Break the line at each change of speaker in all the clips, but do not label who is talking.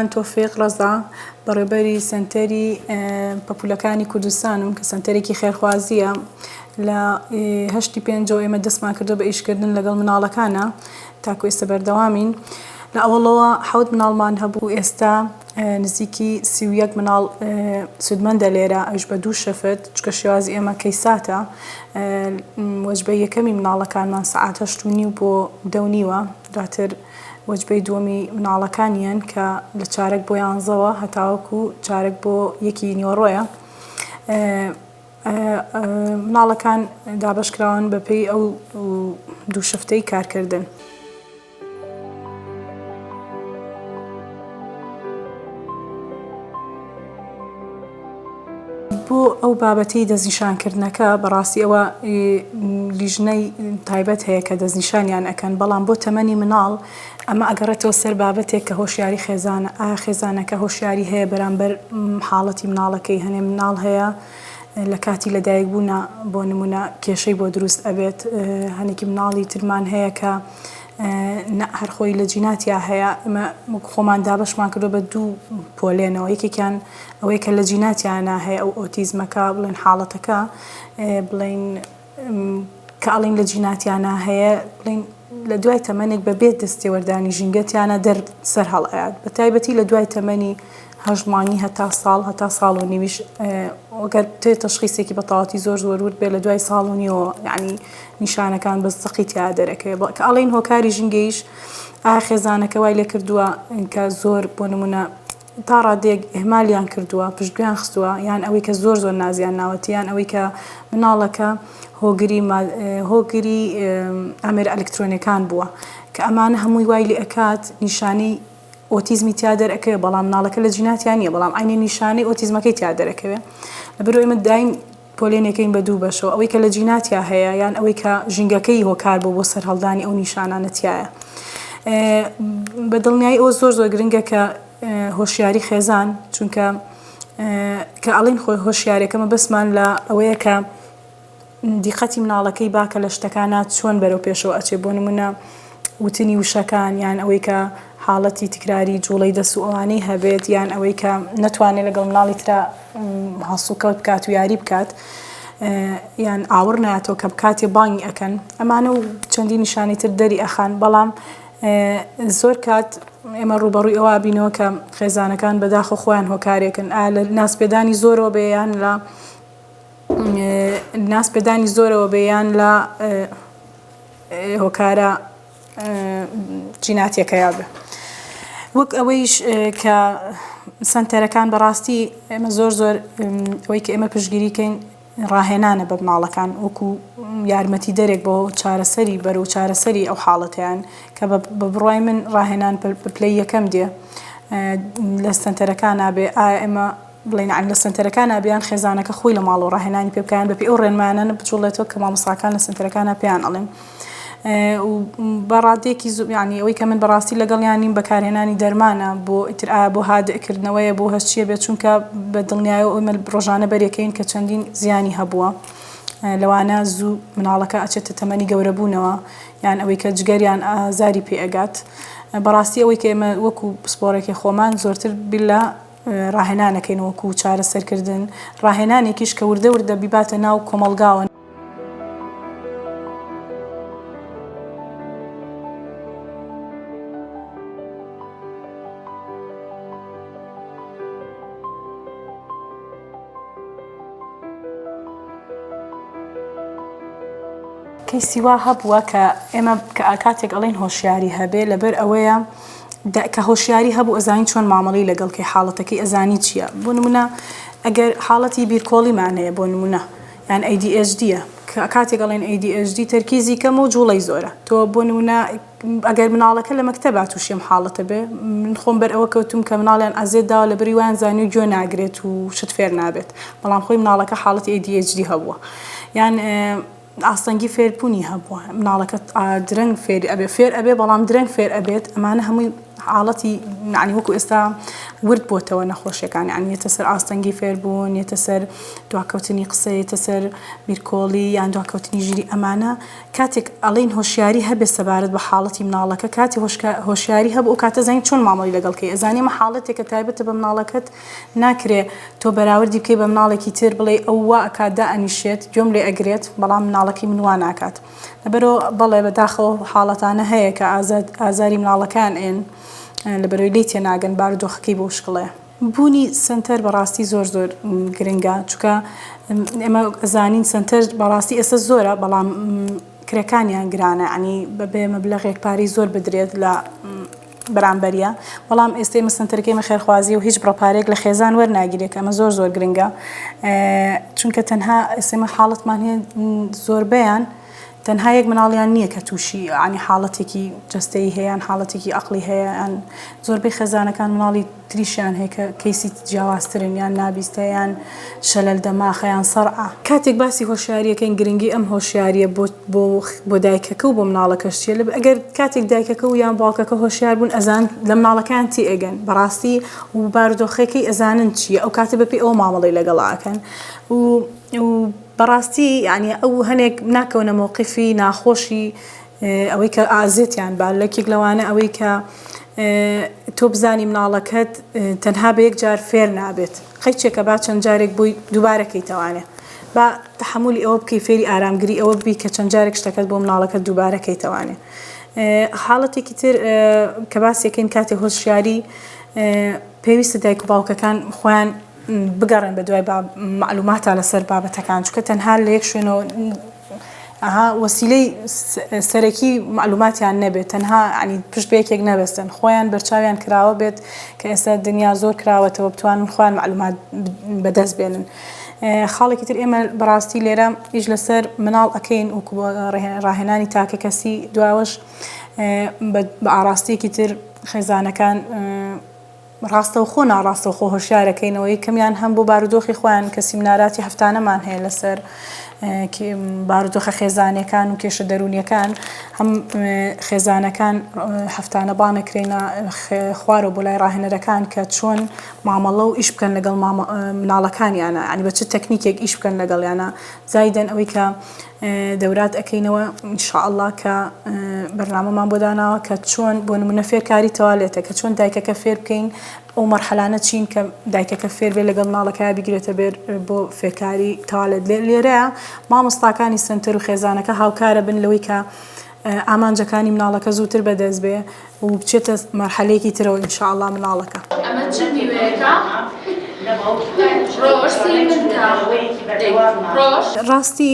من تۆفیق ڕەزا، بەڕێوبەری سەنتەری پەپولەکانی کوردستانم کە سەنتەرێکی خێرخوازییە. لە هەشتی پێنجەوە ئێمە دەستمان کردووە بە ئیشکردن لەگەڵ مناڵەکانا، تاکو ئێستا بەردەوامین. لە ئەوەڵەوە حەوت مناڵمان هەبوو، ئێستا نزیکی سی و یەک مناڵ سوودمەندە لێرە، ئەویش بە دوو شەفت، چونکە شێوازی ئێمە کەیساتە. وەجبەی یەکەمی مناڵەکانمان سەعات هەشت و نیو بۆ دە و نیوە، دواتر وەجبەی دووەمی مناڵەکانیان کە لە چارەک بۆ یانزەوە هەتاوەکو چارەک بۆ یەکی نیوەڕۆیە مناڵەکان دابشکراون بەپێی ئەو دوو شفتەی کارکردن. بۆ ئەو بابەتەی دەستنیشانکردنەکە بەڕاستی ئەوە لیژنەی تایبەت هەیە کە دەستنیشانیان ئەکەن بەڵام بۆ تەمەنی مناڵ ئەمە ئەگەڕێتەوە سەر بابەتێک کە هۆشیاری خێزانە ئایا خێزانەکە هۆشیاری هەیە بەرامبەر حاڵەتی مناڵەکەی هەنێ مناڵ هەیە لە کاتی لەدایک بوونا بۆ نمونە کێشەی بۆ دروست ئەبێت هەنێکی مناڵی ترمان هەیە کە نە هەرخۆی لە جیناتیا هەیە ئمە خۆمان دابشمان کردو بە دوو پۆلێنەوە یەکێکیان ئەوەی کە لە جیناتیانا هەیە ئەو ئۆتیزمە کە بڵێن حاڵەتەکە بڵێن کە ئەڵین لە جیناتیانا هەیە بڵین لە دوای تەمەنێک بە بێت دەستێوەردانی ژینگەتیانە دەر سەر هەڵئات بە تایبەتی لە دوای تەمەنی هەژمانی هەتا ساڵ هەتا ساڵ و نیویش ئۆگەر تێ تەشخیسێکی بەتەواتی زۆر زۆرورد بێ لە دوای ساڵ و نیەوە ینی نیشانەکان بە زەقی تیا دەرەکەوێ بڵ کە ئەڵین هۆکاری ژینگەیش ئاخێزانەکە وای لێ کردووە کە زۆر بۆ نمونە تا ڕادەیەک ئیهمالیان کردووە، پشتگوێیان خستووە، یان ئەوەی کە زۆر زۆر نازیان ناوەتی، یان ئەوەی کە مناڵەکە هۆگری ماد هۆگری ئامێرە ئەلکترۆنیەکان بووە، کە ئەمانە هەمووی وای لێ ئەکات نیشانەی ئۆتیزمی تیا دەرئەکەوێ بەڵام مناڵەکە لە جیناتیا نیە بەڵام عەینی نیشانەی ئۆتیزمەکەی تیا دەرەکەوێ لەبەرئەوەی ئێمە دایم پۆلێنێکەین بە دوو بەشەوە، ئەوەی کە لە جینا تیا هەیە یان ئەوەی کە ژینگەکەی هۆکار بووە بۆ سەرهەڵدانی ئەو نیشانانە تیایە. بە دڵنیایی ئەوە زۆر زۆر گرنگە کە هۆشیاری خێزان چونکە کە ئەڵین خۆی هۆشیارێکە مەبەستمان لە ئەوەیە کە دیقەتی مناڵەکەی باکە لە شتەکانە چۆن بەرەو پێشەوە ئەچێ بۆ نمونە وتنی وشەکان یان ئەوەی کە حاڵەتی تکراری جوڵەی دەست و ئەوانەی هەبێت یان ئەوەی کە نەتوانێت لەگەڵ مناڵی ترا هەڵسوکەوت بکات و یاری بکات یان ئاوڕ نایەتەوە کە بکاتێ بانگی ئەکەن ئەمانە و چەندی نیشانی تر دەری ئەخان بەڵام زۆر کات ئێمە ڕوبەڕووی ئەوە بینەوە کە خێزانەکان بەداخە خۆیان هۆکارێکن ئا لە ناسپێدانی زۆرەوە بێیان لە ناسپێدانی زۆرەوە بێیان لە هۆکارە جیناتیەکەیا بێ وەک ئەوەیش کە سنتەرەکان بەڕاستی ئێمە زۆر زۆر ئەوەی کە ئێمە پشگیریکەین ڕاهێنانە بە مناڵەکان وەکو یارمەتی دەرێک بۆ چارەسەری بەر و چارەسەری ئەو حاڵەتیان کە بە بڕای من ڕاهێنان پلەی یەکەم دێ لە سنتەرەکان نابێ ئایا ئێمە بڵێین عەن لە سەنتەرەکانا بیان خێزانەکە خۆی لە ماڵەوە ڕاهێنانی پێ بکەیان بەپێی ئەو ڕێنمایانە بجوڵێتەوە کە مامۆستاکان لە سەنتەرەکانا پێیان ئەڵێن بە ڕادێکی زوبیانی ئەوەی کە من بەڕاستی لەگەڵیان نیم بەکارهێنانی دەرمانە بۆ ئیتر ئایا بۆ هادئکردنەوەیە بۆ هەست چیە بێت چونکە بە دڵنیایە ئەومە ڕۆژانە بەرێکەین کە چەندین زیانی هەبووە لەوانە زوو مناڵەکە ئەچێتە تەمەنی گەورەبوونەوە یان ئەوەی کە جگەریان ئازاری پێ ئەگات بەڕاستی ئەوەی کە ئێمە وەکو پسپۆڕێکی خۆمان زۆرتر بلە ڕاهێنانەکەین وەکو چارەسەرکردن، ڕاهێنانێکیش کە وردە وردە بیباتە ناو کۆمەڵگاوە. کەیسی وا هەبووە کە ئێمە کە کاتێک ئەڵێن هۆشیاری هەبێ لەبەر ئەوەیە، دە کە هۆشیاری هەبوو ئەزانی چۆن مامەڵەی لەگەڵ کەی حاڵەتەکەی ئەزانی چیە بۆ نمونە ئەگەر حاڵەتی بیرکۆڵیمان هەیە بۆ نمونە یان ئەی دی ئێچ دیە کە کاتێک ئەڵێن ئەی دی ئێچ دی تەرکیزی کەم و جوڵەی زۆرە تۆ بۆ نمونە ئەگەر مناڵەکە لە مەکتەبا تووشی ئەم حاڵەتە بێ من خۆم بەر ئەوە کەوتوم کە مناڵیان ئەزێت داوە لە بری وایان زانی و گوێ ناگرێت و شت فێر نابێت بەڵام خۆی مناڵەکە حاڵەتی ئەی دی ئێچ دی هەبووە یان ئاستەنگی فێربونی هەبووە مناڵەکە درەنگ فێری ئەبێ فێر ئەبێ بەڵام درەنگ فێر ئەبێت ئەمانە هەمووی حاڵەتی نعنی وەکو ئێستا ورد بۆتەوە نەخۆشیەکانی ئەنیێتە سەر ئاستەنگی فێربوون یێتە سەر دواکەوتنی قسەیتە سەر بیرکۆڵی یان دواکەوتنی ژیری ئەمانە کاتێک ئەڵین هۆشیاری هەبێ سەبارەت بە حاڵەتی مناڵەکە کاتی هۆشیاری هەبوو کاتە زانین چۆن مامەڵی لەگەڵکەی ئەزانیمە حاڵەتێکە تایبەتە بە مناڵەکەت ناکرێ تۆ بەراوردی بکەی بە مناڵێکی تر بڵێی ئەو وا ئەکات دائەنیشێت گوێم لێ ئەگرێت بەڵام مناڵەکەی من وا ناکات لەبەرو بەڵێ بەداخەوە حاڵەتانە هەیە کە ئازاد ئازاری مناڵەکان ئێن لەبەرەوەی لی تێناگەن بارودۆخەکەی بۆ شکڵێ. بوونی سەنتەر بەڕاستی زۆر زۆر گرنگە چونکە ئێمە ئەزانین سەنتەر بەڕاستی ئێستا زۆرە بەڵام کرێکانیان گرانە یانی بەبێ مەبلەغێک پارەی زۆر بدرێت لە بەرامبەریە بەڵام ئێستەی مەسەنتەرەکەی ئێمە خێرخوازیە و هیچ بڕە پارەیەک لە خێزان وەرناگیرێت کە ئەمە زۆر زۆر گرنگە چونکە تەنها ئێستەی من حاڵەتمان هەیە زۆربەیان تەنها یەک مناڵیان نییە کە تووشی عنی حاڵەتێکی جستەی هەیەیان حاڵەتێکی عقلی هەیەیان زۆربەی خێزانەکان مناڵی تریشیان هەیە کە کەیسی جیاوازترن یان نابیستە یان شەلەل دەماخە یان سەڕعە. کاتێک باسی هۆشیاری ئەکەین گرنگی ئەم هۆشیاریە بۆ بۆ بۆ دایکەکە و بۆ مناڵەکەش چیە لەبەر ئەگەر کاتێک دایکەکە و یان باوکەکە هۆشیار بوون ئەزان لە مناڵەکەیان تێ ئەگەن بەڕاستی و بارودۆخەکەی ئەزانن چیە ئەو کاتە بەپێی ئەوە مامەڵەی لەگەڵا ئەکەن و و بەڕاستی یانی ئەو هەنێک ناکەونە مەوقیفی ناخۆشی ئەوەی کە ئازێتیان با لەکیک لەوانە ئەوەی کە تۆ بزانی مناڵەکەت تەنها بە یەک جار فێر نابێت قەیچێکە با چەند جارێک بووی دووبارە کەیتەوانێ با تحملی ئەوە بکەی فێری ئارامگری ئەوە بی کە چەند جارێک شتەکەت بۆ مناڵەکە دووبارە کەیتەوانێ حاڵەتێکی تر کە باسێکەین کاتی هۆشیاری پێویستە دایک و باوکەکان خۆیان بگەڕێن بە دوای مەعلوماتا لە سەر بابەتەکان چونکە تەنها لە یەک شوێنەوە وەسیلەی سەرەکی مەعلوماتیان نەبێت تەنها عنی پشت بە یەکێک نەبەستن خۆیان بەرچاویان کراوە بێت کە ئێستا دنیا زۆر کراوەتەوە بتوانن خوان مەعلومات بەدەست بێنن. خاڵێکی تر ئێمە بەڕاستی لێرە ئیش لەسەر مناڵ ئەەکەین و ڕاهێنانی تاکە کەسی دواوەش بە ئاراستەیەکی تر خێزانەکان ڕاستەوخۆ ناڕاستەوخۆ هۆشیارەکەینەوە یەکەمیان هەم بۆ بارودۆخی خۆیان کە سیمناراتی هەفتانەمان هەیە لەسەر بارودۆخە خێزانەکان و کێشە دەرونیەکان هەم خێزانەکان هەفتانە بانەکرێنە خوارەوە بۆ لای ڕاهێنەرەکان کە چۆن مامەڵە و ئیش بکەن لەگەڵ مناڵەکانیانە ینی بە چ تەکنیکێک ئیش بکەن لەگەڵیانە زایدەن ئەوەی کە دەورات ئەکەینەوە ان شاء اللە کە بەرنامەمان بۆ داناوە کە چۆن بۆ نمونە فێرکاری تەوالێتە کە چۆن دایکەکە فێر بکەین ئەو مەرحەلانە چین کە دایکەکە فێر بێ لەگەڵ مناڵەکە بگرێتە بێر بۆ فێرکاری تەوالێت لێرەیە مامۆستاکانی سەنتەر و خێزانەکە هاوکارە بن لەوەی کە ئامانجەکانی مناڵەکە زووتر بەدەست بێ و بچێتە مەرحەلەیەکی ترەوە ان شاء اللە مناڵەکە. ئەمە چ
میوەیەکە ڕۆژ سەیری من بکە دەی
ڕۆژ. ڕاستی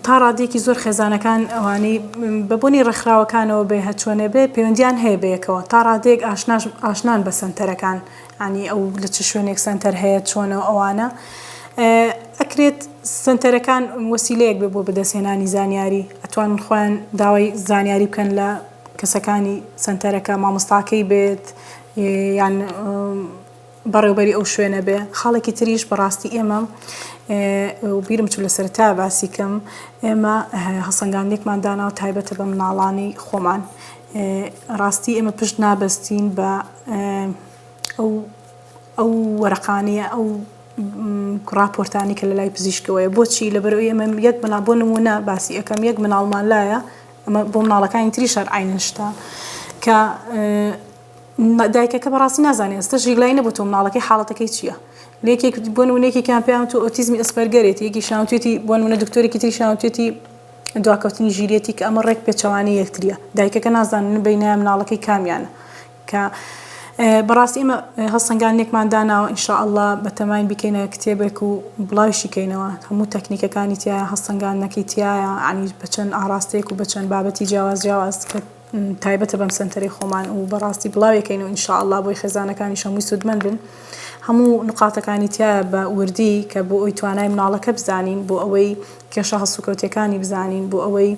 تا ڕادەیەکی زۆر خێزانەکان ئەوانەی بە بۆنی ڕێکخراوەکانەوە بێ هەرچۆنێ بێ پەیوەندیان هەیە بەیەکەوە تا ڕادەیەک ئاشناش ئاشنان بە سەنتەرەکان یانی ئەو لە چ شوێنێک سەنتەر هەیە چۆنە و ئەوانە ئەکرێت سەنتەرەکان وەسیلەیەک بێ بۆ بەدەستهێنانی زانیاری ئەتوان خۆیان داوای زانیاری بکەن لە کەسەکانی سەنتەرەکە مامۆستاکەی بێت یان بەڕێوبەری ئەو شوێنە بێ خاڵێکی تریش بەڕاستی ئێمە بیرم چ لە سەرتا باسی کەم ئێمە هەسەنگاندێکمان داناوە تایبەتە بە مناڵانی خۆمان ڕاستی ئێمە پشت نابەستین بە ئەو ئەو وەرەقانەیە ئەو ڕاپۆرتانی کە لەلای پزیشکەوەیە بۆچی لەبەرو ئێمە یەک منا بۆ نمونە باسی یەکەم یەک مناڵمان لایە ئەمە بۆ مناڵەکانی تری شار عینشتا کە دایکەکە بەڕاستی نازانێت ئێستا ژیلای نەبوو تۆ مناڵەکەی حاڵەتەکەی چییە لەکێک بۆن و نێکێکیان پێیان تو ئۆتیزمی ئەسپەرگەرێتی یەکی شانتێتی بۆن منە دکتۆرێکی تری شانتێتی دواکەوتنی ژیریەتی کە ئەمە ڕێک پێچەوانەی یەکتریە دایکەکە نازانێت من بینایە مناڵەکەی کامیانە کە بەڕاستی ئێمە هەڵسەنگاندنێکمان داناوە ان شاء اللە بەتەماین بیکەینە کتێبێک و بڵاویشی کەینەوە هەموو تەکنیکەکانی تیایە هەڵسەنگاندنەکەی تیایە عنی بەچەند ئاڕاستەیەک و بەچەند بابەتی جیاواز جیاواز کە تایبەتە بەم سەنتەرەی خۆمان و بەڕاستی بڵاویەکەین و ان شاء اللە بۆی خێزانەکانیش هەمووی سوودمەند بن هەموو نقاتەکانی تیایە بە وردی کە بۆ ئەوی توانای مناڵەکە بزانین بۆ ئەوەی کێشە هەڵسوکەوتیەکانی بزانین بۆ ئەوەی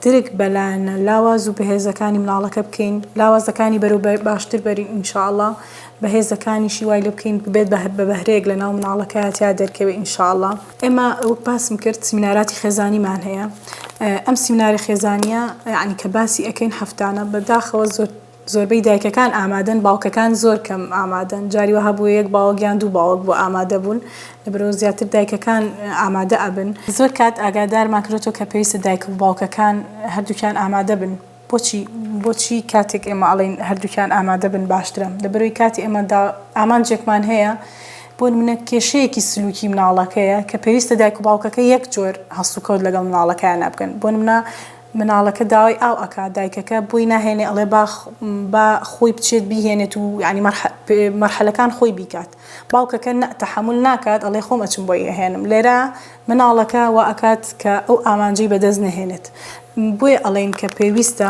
درک بە لایەنە لاواز و بەهێزەکانی مناڵەکە بکەین لاوازەکانی بەرەو باشتر بەرین ان شاء اللە بەهێزەکانیشی وای لێ بکەین ببێت بە بەهرەیەک لە ناو مناڵەکەیا تیا دەرکەوێ ان شاء اللە. ئێمە وەک باسم کرد سمیناراتی خێزانیمان هەیە ئەم سمیناری خێزانیە عنی کە باسی ئەەکەین هەفتانە بەداخەوە زۆر زۆربەی دایکەکان ئامادەن باوکەکان زۆر کەم ئامادەن جاری وەها بوو یەک باوەگیان دوو باوەک بۆ ئامادە بوون لە برۆ زیاتر دایکەکان ئامادە ئەبن زۆر کات ئاگادارمان کرێتەوە کە پێویستە دایک و باوکەکان هەردووکیان ئامادە بن. بۆچی بۆچی کاتێک ئێمە ئەڵێین هەردووکیان ئامادە بن باشترە؟ لەبەرەوەی کاتێ ئێمە دا ئامانجێکمان هەیە، بۆ نمونە کێشەیەکی سلوکی مناڵەکەیە کە پێویستە دایک و باوکەکە یەک جۆر هەڵس و کەوت لەگەڵ مناڵەکەیانا بکەن، بۆ نمونە مناڵەکە داوای ئاو ئەکا دایکەکە بۆی ناهێنێ ئەڵێ با با خۆی بچێت بیهێنێت و یانی مەرحە مەرحەلەکان خۆی بیکات. باوکەکە نە تەحەمول ناکات ئەڵێ خۆم ئەچم بۆی ئەهێنم لێرە مناڵەکە وا ئەکات کە ئەو ئامانجەی بەدەست نەهێنێت بۆیە ئەڵێین کە پێویستە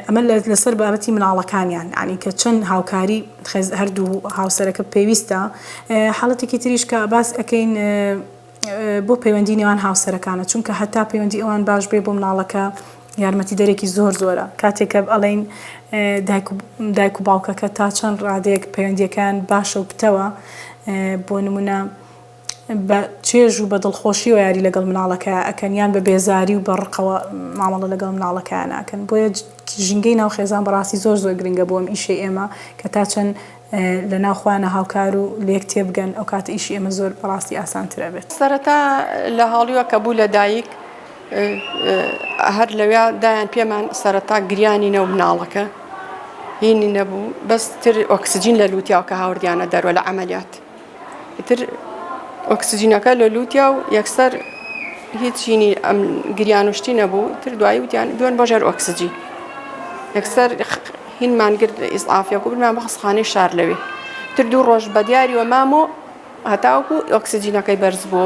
ئەمە لەسەر بابەتی مناڵەکانیان عنی کە چەند هاوکاری هەردوو هاوسەرەکە پێویستە حاڵەتێکی تریش کە باس ئەەکەین بۆ پەیوەندی نێوان هاوسەرەکانە چونکە هەتا پەیوەندی ئەوان باش بێ بۆ مناڵەکە یارمەتیدەرێکی زۆر زۆرە کاتێک کە ئەڵێین دایک و باوکەکە تا چەند ڕادەیەک پەیوەندیەکەیان باشە و پتەوە بۆ نمونە بە چێژ و بە دڵخۆشیەوە یاری لەگەڵ مناڵەکە ئەکەن یان بە بێزاری و بە ڕقەوە مامەڵە لەگەڵ مناڵەکەیان ئەکەن بۆیە ژینگەی ناو خێزان بەڕاستی زۆر زۆر گرنگە بۆ ئەم ئیشەی ئێمە کە تا چەند لەناو خۆیانە هاوکار و لێک تێبگەن ئەوکاتە ئیشی ئێمە زۆر بەڕاستی ئاسانتر ئەبێت. سەرەتا لە
هاڵیوە کە بوو لە دایک هەر لەوێ دایان پێمان سەرەتا گریانی نەو مناڵەکە هینی نەبوو بەس تر ئۆکسجین لە لوتیاو کە هاوردیانە دەروە لە عملیات. ئیتر ئۆکسجینەکە لە لوتیا و یەکسەر هیچ چینی ئەم گریان و شتی نەبوو تر دوایی وتیان دوێن بۆ ژێر ئۆکسجی یەکسەر هینمان گرت لە ئیسعافە گوبرمان بە خەسخانەی شار لەوێ تر دوو ڕۆژ بە دیاری وە مام و هەتاوکو ئۆکسسیجینەکەی بەرز بۆ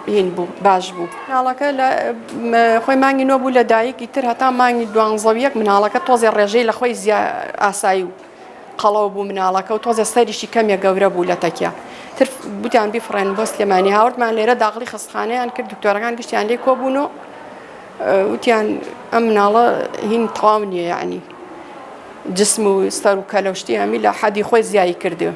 هین بوو باش بوو مناڵەکە لە خۆی مانگی نۆ بوو لە دایکی تر هەتا مانگی دوانزەویەک مناڵەکە تۆزێ ڕێژەی لە خۆی زیا ئاسایی و قەڵەو بوو مناڵەکە و تۆزێ سەریشی کەمێ گەورە بوو لە تەکیە تر بوتیان بیفڕێن بۆ سلێمانی هاوردمان لێرە داغڵی خستخانەیان کرد دکتۆرەکان گشتیان لێ کۆبوون و وتیان ئەم مناڵە هین تەواو نییە یعنی جسم و سەر و کەلەشتی هەمی لە حەدی خۆی زیایی کردو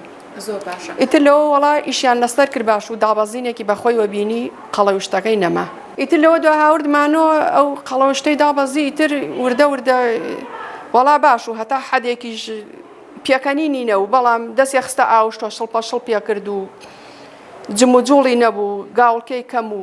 ئیتر لەوە وەڵا ئیشیان لەسەر کرد باش و دابەزینێکی بەخۆی وە بینی قەڵەوشتەکەی نەما. ئیتر لەوە دوا هاورد مانۆ ئەو قەڵەوشتەی دابەزی ئیتر وردە وردە وەڵا باش و هەتا حەدێکیش پێکەنینی نەبوو بەڵام دەسێ خستە ئاوشتۆ شڵپە شڵپێ کرد و جموجوڵی نەبوو گاوڵکێی کەم و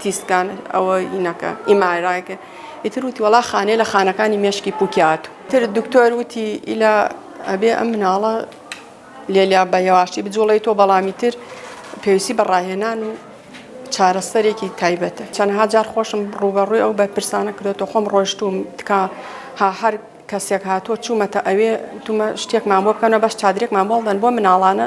تیسکان ئەوە ئینەکە ئیمارایکە ئیتر وتی وڵا خانێ لە خانەکانی مێشکی پوکیات تر دکتۆر وتی ئیلا ئەبێ ئەم مناڵە لێلیا بە یەواشی بجوڵی تۆ بەڵامی تر پێویستی بە ڕاهێنان و چارەسەرێکی تایبەتە چەندها جار خۆشم ڕوبەڕووی ئەو بە پرسانە کرێتەوە خۆم ڕۆشتوم تکا ها هەر کەسێک هاتۆ چوومەتە ئەوێ تومە شتێکمان بۆ بکەنە بەس چادرێکمان بۆڵدەن بۆ مناڵانە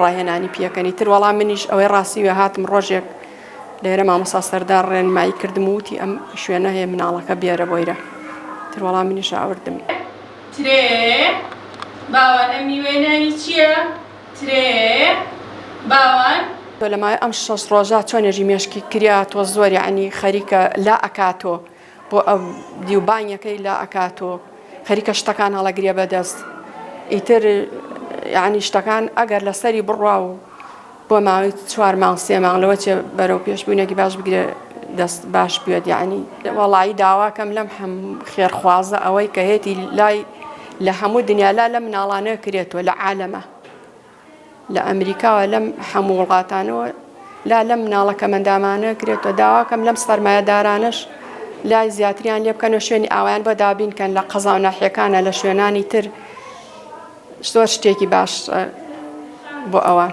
ڕاهێنانی پیەکەنی تر وەڵام منیش ئەوەی ڕاستیوێ هاتم ڕۆژێک لێرە مامۆسا سەردار ڕێنمایی کردم وتی ئەم شوێنە هەیە مناڵەکە بێرە بۆیرە تر وەڵام منیش ئاوردم ترێ
باوان ئەم میوەیە ناوی چییە؟ ترێ باوان تۆ لە ماوەی
ئەم شەش ڕۆژە چۆن نوێژی مێشکی کریا تۆ زۆر یعنی خەریکە لا ئەکاتۆ بۆ ئەو دیو بانگەکەی لا ئەکات و خەریکە شتەکان هەڵەگرێ بەدەست ئیتر یعنی شتەکان ئەگەر لەسەری بڕوا و بۆ ماوەی چوار مانگ سێ مانگ لەوە چێ بەرەو پێشبوونێکی باش بگرێ دەست باش بێت یعنی وەڵایی داواکەم لەم هەم خێرخوازە ئەوەی کە هێتی لای لە هەموو دنیالا لە مناڵانە کرێتەوە لە عالەمە لە ئەمریکا و لەم هەموو وڵاتانەوە لا لەم مناڵە کەمەندامانە کرێتەوە داواکەم لەم سەرمایەدارانش لای زیاتریان لێ بکەن و شوێنی ئاوایان بۆ دابینکەن لە قەزا و ناحیەکانە لە شوێنانی تر زۆر شتێکی باش بۆ ئەوان.